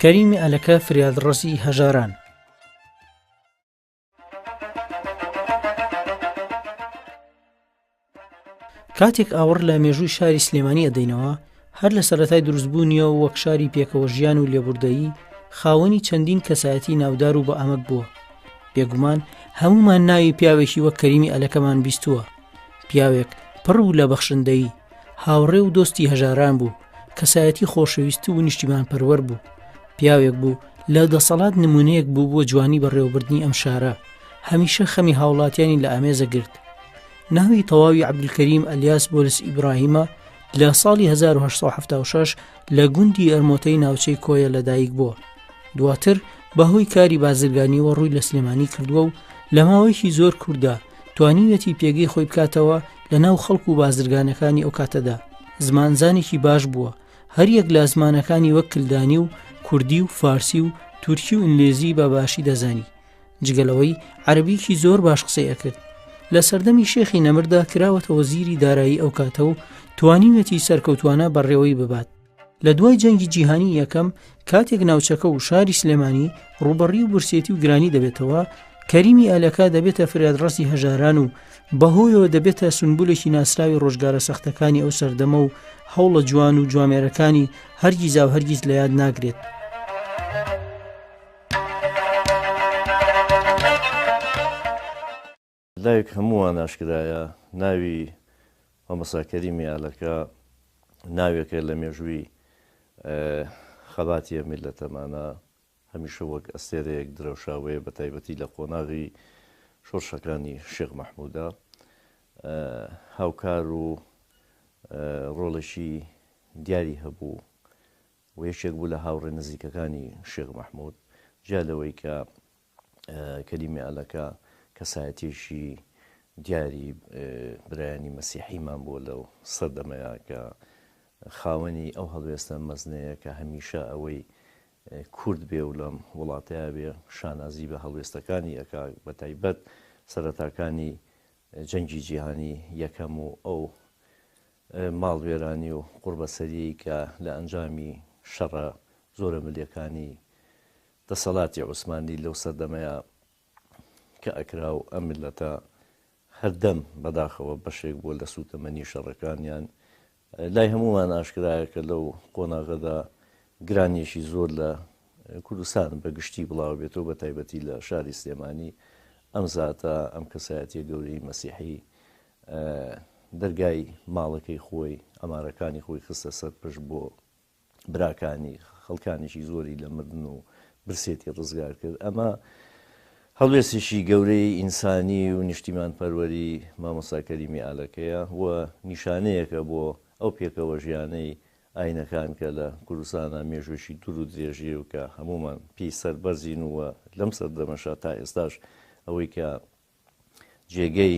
کەریمی ئەلەکە فریادڕەسی هەژاران. کاتێک ئاوڕ لە مێژووی شاری سلێمانی ئەدەینەوە هەر لە سەرەتای دروستبوونیەوە وەک شاری پێکەوە ژیان و لێبوردەیی خاوەنی چەندین کەسایەتی ناودار و بە ئەمەک بووە بێگومان هەمومان ناوی پیاوێکی وەک کەریمی ئەلەکەمان بیستووە پیاوێک پڕ بوو لە بەخشندەیی هاوڕێ و دۆستی هەژاران بوو کەسایەتی خۆشەویست و نیشتیمان پەروەەر بوو پیاوێک بوو لە دەسەڵات نمونەیەک بوو بۆ جوانی بەڕێوەبردنی ئەم شارە هەمیشە خەمی هاوڵاتیانی لە ئامێزە گرت ناوی تەواوی عبدکریم ئەلیاس بۆلس ئیبراهیمە لە ساڵی 1970 لە گوندی ئەرمۆتەی ناوچەی کۆیە لەدایک بووە دواتر بەهۆی کاری بازرگانیەوە ڕووی لە سلێمانی کردووە و لە ماوەیەکی زۆر کووردا توانیویەتی پێگەی خۆی بکاتەوە لە ناو خەڵک و بازرگانەکانی ئەو کاتەدا زمانزانێکی باش بووە هەریەک لە زمانەکانی وەک کلدانی و کوردی و فارسی و تورکی و ئینگلیزی بە باشی دەزانی جگەلەوەی عربیکی زۆر باش قسەی ئەکرد لە سەردەمی شێخی نەمردا کراوەتەوە زیری دارایی ئەو کاتە و توانیویەتی سەرکەوتوانە بەڕێوەی ببات لە دوای جەنگی جیهانی یەکەم کاتێک ناوچەکە و شاری سلێمانی ڕوبەڕی و برسێتی و گرانی دەبێتەوە کەریمی ئەلەکە دەبێتە فرادڕستی هەژاران و بەهۆیەوە دەبێتە سنبولێکی ناسراوی ڕۆژگارە سەختەکانی ئەو سەردەمە و هەوڵە جوان و جوامێرەکانی هەرگیزا و هەرگیز لە یاد ناگرێت. لایک هەمووان ئاشکرایە ناوی مامۆستا کەریمی ئالەکە ناوێکە لە مێژووی خەباتیە میلەتەمانە هەمیشە وەک ئەستێرەیەک درەوشاوەیە بە تایبەتی لە قۆناغی شۆرشەکانی شێخ مەحمودا هاوکار و ڕۆڵێکی دیاری هەبوو و یەکێک بوو لە هاوڕێ نزیکەکانی شێخ مەحمود جیا لەوەی کە کەریمی ئەلەکە کەسایەتیەکی دیاری برایانی مەسیحیمان بووە لەو سەردەمەیە کە خاوەنی ئەو هەڵوێستە مەزنەیە کە هەمیشە ئەوەی کورد بێ و لەم وڵاتەیە بێ شانازی بە هەڵوێستەکانی ئەک بە تایبەت سەرەتاکانی جەنگی جیهانی یەکەم و ئەو ماڵوێرانی و قوربەسەری کە لە ئەنجامی شەڕە زۆرە ملەکانی دەسەڵاتی عوسمانی لەو سەردەمەیا کە ئەکرا و ئەم میللەتە هەردەم بەداخەوە بەشێک بووە لە سووتەمەنی شەڕەکانیان، لای هەموومان ئاشکرایە کە لەو قۆناغەدا گرانیەکی زۆر لە کوردستان بە گشتی بڵاوە بێت و بە تایبەتی لە شاری سلێمانی ئەم زاتە ئەم کەسایەتیە گەورەی مەسیحی دەرگای ماڵەکەی خۆی عەمارەکانی خۆی خستە سەر پشت بۆ براکانی، خەڵکانێکی زۆری لە مردن و برسێتی ڕزگار کرد. ئەمە هەڵوێستێکی گەورەی ئینسانی و نیشتیمانپەروەری مامۆستا کەریمی ئالەکەیە و نیشانەیەکە بۆ ئەو پێکەوەژیانەی ئاینەکان کە لە کوردستانا مێژووێکی دوور و درێژی و کە هەموومان پێی سەربەرزین و لەم سەردەمەشا تا ئێستاش ئەوەی کە جێگەی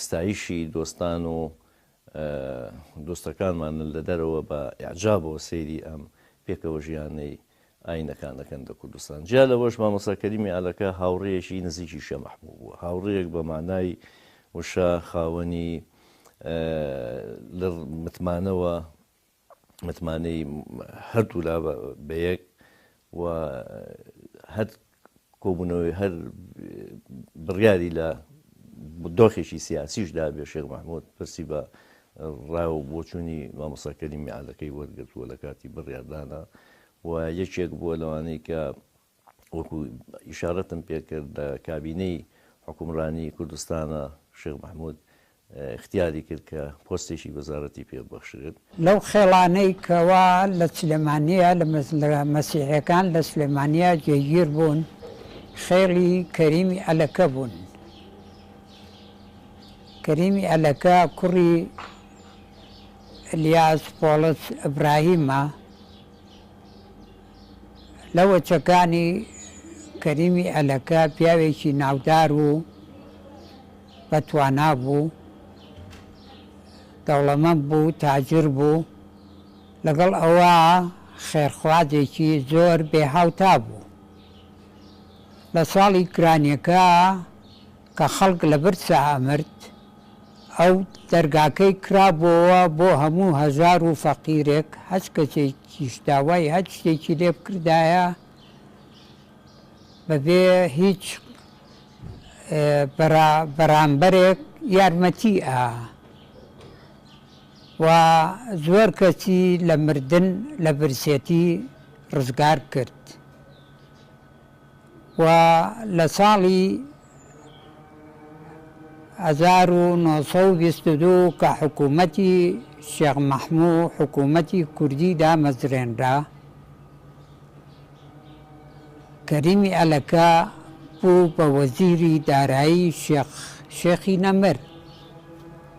ستایشی دۆستان و دۆستەکانمانن لە دەرەوە بە ئیعجابەوە سەیری ئەم پێکەوە ژیانەی ئاینەکان دەکەن لە کوردستان جیا لەوەش مامۆستا کەریمی ئالەکە هاوڕێیەکی نزیکی شێ مەحبوب بووە هاوڕێیەک بە مانای وشە خاوەنی لە متمانەوە متمانەی هەردوولا بە یەک و هەر کۆبوونەوەی هەر بڕیاری لە دۆخێکی سیاسیش دابێ شێخ مححمود پرسی بە ڕای و بۆچوونی مامۆساکەری میعادەکەی وەرگرتووە لە کاتی بڕیاردانە و یەکێک بووە لەوانەیە کە وەکو ئیشارەتم پێکرد لە کابینەی حوکمڕانی کوردستانا شێخ مەحمود ئیختیاری کرد کە پۆستێکی وەزارەتی پێ بەخشرێت. لەو خێڵانەی کەوا لە سلێمانیە لە مەسیحیەکان لە سلێمانیە جێگیر بوون خێڵی کەریمی ئەلەکە بوون کەریمی ئەلەکە کوڕی الیاس پۆڵس ابراهیمە، لە وەچەکانی کەریمی ئەلەکە پیاوێکی ناودار و بە توانا بوو، دەوڵەمەند بوو، تاجر بوو، لەگەڵ ئەوە خێرخوازێکی زۆر بێ هاوتا بوو. لە ساڵی گرانیەکە، کە خەڵک لە برسا ئەمرد ئەو دەرگاکەی کرابۆوە بۆ هەموو هەژار و فەقیرێک هەچ کەسێکیش داوای هەچ شتێکی لێ بکردایە بە بێ هیچ برا بەرامبەرێک یارمەتی ئا وە زۆر کەسی لە مردن لە برسێتی ڕزگار کرد و لە ساڵی هەزار و نۆ سەد و بیست و دوو کە حکوومەتی شێخ مەحموو حکوومەتی کوردی دامەزرێنرا، کەریمی ئەلەکە بوو بە وەزیری دارایی شێخ شێخی نەمر.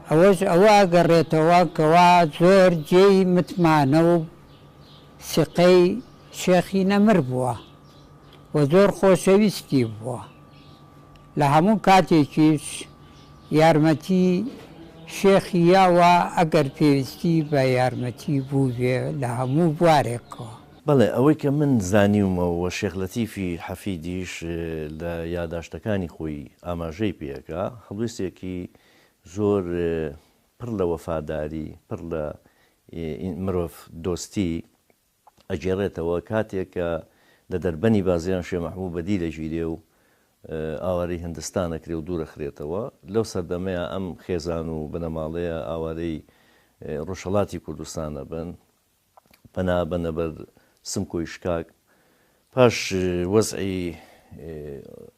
ئەوەش ئەوە ئەگەڕێتەوە کەوا زۆر جێی متمانە و سیقەی شێخی نەمر بووە. و زۆر خۆشەویستی بووە لە هەموو کاتێکیش یارمەتی شێخی یاوە ئەگەر پێویستی بە یارمەتی بووبێ لە هەموو بوارێکەوە. بەڵێ ئەوەی کە من زانیومەو و شێخ لەتیفی حەفیدیش لە یاداشتەکانی خۆی ئاماژەی پێکا هەڵوێستێکی زۆر پڕ لە وەفاداری پڕ لە مرۆڤ دۆستی، ئەگێڕێتەوە کاتێک کە لە دەربەنی بازیان شێ مەحبووب بەدی دەگیرێ و ئاوارەی هندستان ئەکرێ و دوور ئەخرێتەوە، لەو سەردەمەیا ئەم خێزان و بنەماڵەیە ئاوارەی ڕۆژهەڵاتی کوردستان ئەبن، پەنا ئەبەنە بەر سمکۆی شکاک. پاش وەزعی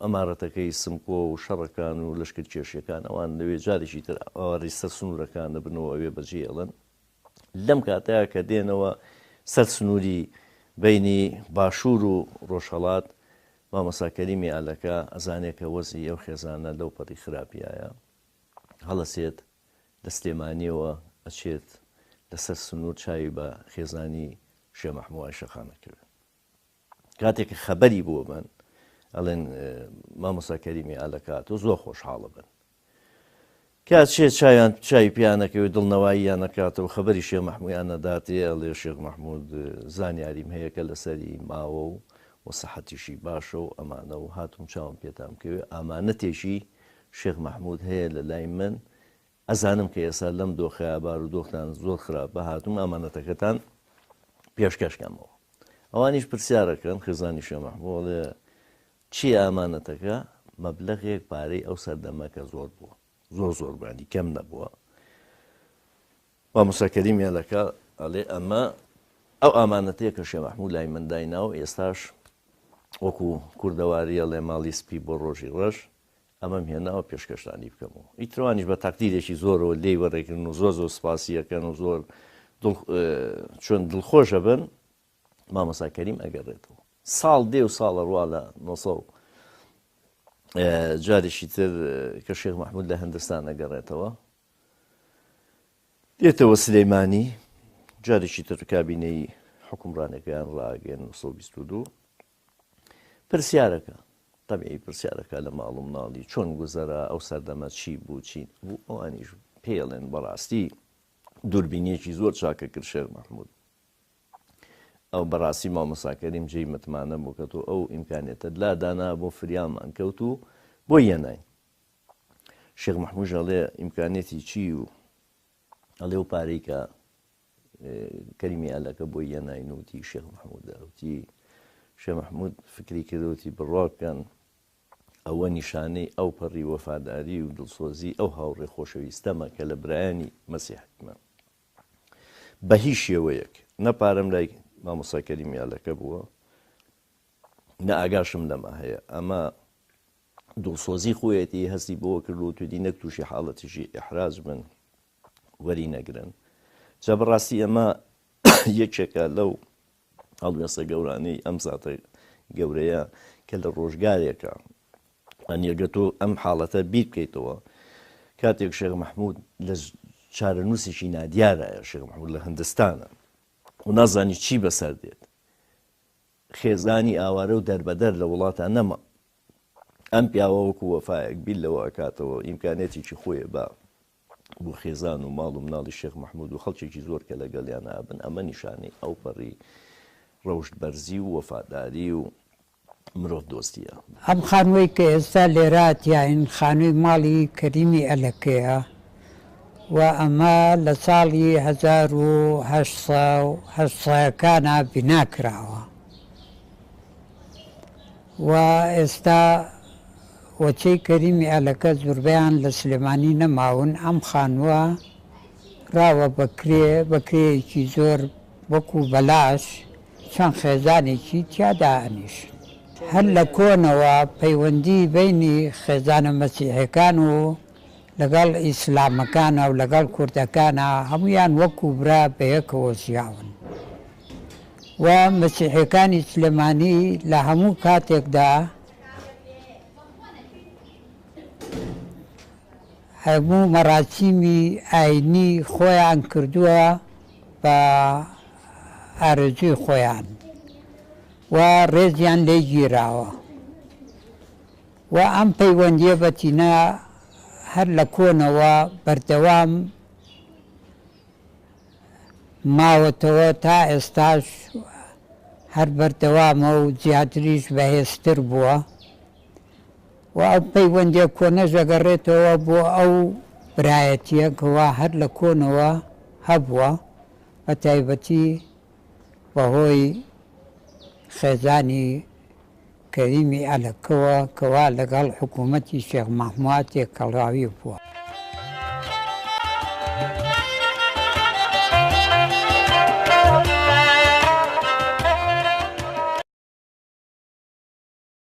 ئەمارەتەکەی سمکۆ و شەڕەکان و لەشکرکێشییەکان ئەوان لەوێ جارێکی تر ئاوارەی سەر سنوورەکان ئەبن و ئەوێ بەجێ ئەڵن. لەم کاتەیا کە دێنەوە سەر سنوری بەینی باشور و ڕۆژهەڵات مامۆستا کەریمی ئالەکە ئەزانێ کە وەزعی ئەو خێزانە لەو پەڕی خراپیایە هەڵەسێت لە سلێمانیەوە ئەچێت لە سەر سنور چاوی بە خێزانی شێ مەحموای شەقامە کرد کاتێک کە خەبەری بۆ بن ئەڵێن مامۆستا کەریمی ئالەکات و زۆر خۆشحاڵە بن کا چێ چاویان چاوی پیا نەکەوێ دڵ نەواییان نەکاتەوە خەبەری شێخ مەحمویان نەداتێ ئەڵێ شێخ مەحمود زانیاریم هەیە کە لەسەری ماوە و و سەحەتیشی باشە و ئەمانە و هاتووم چاوم پێتان بکەوێ ئامانەتێکی شێخ مەحمود هەیە لە لای من ئەزانم کە ئێستا لەم دۆخەیا بارو دۆختان زۆر خراپە هاتووم ئامانەتەکەتان پێشکەشکەمەوە ئەوانیش پرسیارەکەن خێزانی شێخ مەحمود ئەڵێ چیە ئامانەتەکە؟ مەبلەغێک پارەی ئەو سەردەمە کە زۆر بووە زۆر زۆر بووە یانی کەم نەبووە مامۆستا کەریم هێلەکە ئەڵێ ئەمە ئەو ئامانەتەیە کە شێ مەحموود لای من دایناو ئێستاش وەکو کوردەواریە ڵێ ماڵی سپی بۆ ڕۆژی ڕەش ئەمەم هێناوە پێشکەشتانی بکەم و ئیتروانیش بە تاقدیرێکی زۆرەوە لێی وەڕێکردن و زۆر زۆر سپاسیەکەن و زۆر چۆن دڵخۆشە بن مامۆستا کەریم ئەگەڕێتەوە ساڵ دێ و ساڵە ڕوا لە نۆ جارێکی تر کە شێخ مححمود لە هەندستان ئەگەڕێتەوە دێتەوە سلەیمانی جارێکی تر کابینەی حکومڕانەکەیان ڕاگەن 1922 پرسیارەکە طبعی پرسیارەکە لە ماڵ و مناڵی چۆن گوزەرە ئەو سەردەمە چی بوو چی بوو ئەوانیش پێڵێن بەڕاستی دووربینیەکی زۆر چاکە کرد شێر مححمود ئەو بەڕاستی مامۆستا کەریم جێی متمانە بوو کە تۆ ئەو ئیمکانیەتەت لا دانا بۆ فریامان کەوت و بۆی یەناین شێخ محموش ئەڵێ ئیمکانیەتی چی و ئەڵێ و پارەی کە کەریمی ئالەکە بۆی یەناین وتی شێخ محمود وتی شێ محمود فکری کردوتی بڕواکەن ئەوە نیشانەی ئەو پەڕی وەفاداری و دڵسۆزی ئەو هاوڕێ خۆشەویستەمە کە لە برایانی مەسیحکمە بە هیچ شێوەیەک نە پارەم لای مامۆستا کەریم یالەکە بووە نە ئاگاشم لەمە هەیە ئەمە دڵسۆزی خۆیەتی هەستی بۆ کردو تودی نەک تووشی حاڵەتیشی ئحراج بن وەری نەگرن جا بەڕاستی ئەمە یەکێکە لەو هەڵوێستە گەورانەی ئەم زاتە گەورەیە کە لە ڕۆژگارێکە ئەنیەگە تۆ ئەم حاڵەتە بیر بکەیتەوە کاتێک شێخ مەحمود لە چارەنووسێکی نادیارایە شێخ مەحمود لە هندستانە و نازانی چی بەسەر دێت خێزانی ئاوارە و دەربەدەر لە وڵاتان نەما ئەم پیاوە وەکو وەفایەک بیر لەوە ئەکاتەوە ئیمکانێتێکی خۆیە بە بۆ خێزان و ماڵ و مناڵی شێخ مەحمود و خەڵکێکی زۆر کە لەگەڵیانا بن، ئەمە نیشانەی ئەوپەڕی ڕەوشت بەرزی و وەفاداری و مرۆڤ دۆستیە. ئەم خانووەی کە ئێستا لێرە تیاین خانووی ماڵی کەریمی ئەلەکەیە و ئەمە لە ساڵی هەزار و هەشت سەد و هەشت سەکانا بیناکراوە. و ئێستا وەچەی کەریمی ئەلەکە زوربەیان لە سلێمانی نەماون ئەم خانوە کراوە بە کرێ بە کرێیەکی زۆر وەکو بەلاش چەند خێزانێکی تیا دائەنیشن هەر لە کۆنەوە پەیوەندی بەینی خێزانە مەسیحێکان و لەگەڵ ئیسلامەکانا و لەگەڵ کوردەکانا هەموویان وەکو برا بەیەکەوە ژیاون و مەسیحەکانی سلێمانی لە هەموو کاتێکدا هەموو مەراسیمی ئاینی خۆیان کردووە بە ئارەزوی خۆیان و ڕێزیان لێ گیراوە. و ئەم پەیوەندییە بە تینا هەر لە کۆنەوە بەردەوام ماوەتەوە تا ئێستاش هەر بەردەوامە و زیاتریش بەهێزتر بووە و ئەو پەیوەندیە کۆنەش دەگەڕێتەوە بۆ ئەو برایەتیە کەوا هەر لە کۆنەوە هەبووە بە تایبەتی بەهۆی خێزانی کەریمی ئەلەکەوە کە وا لەگەڵ حکوومەتی شێخ مەهموار تێکەڵاوی بووە.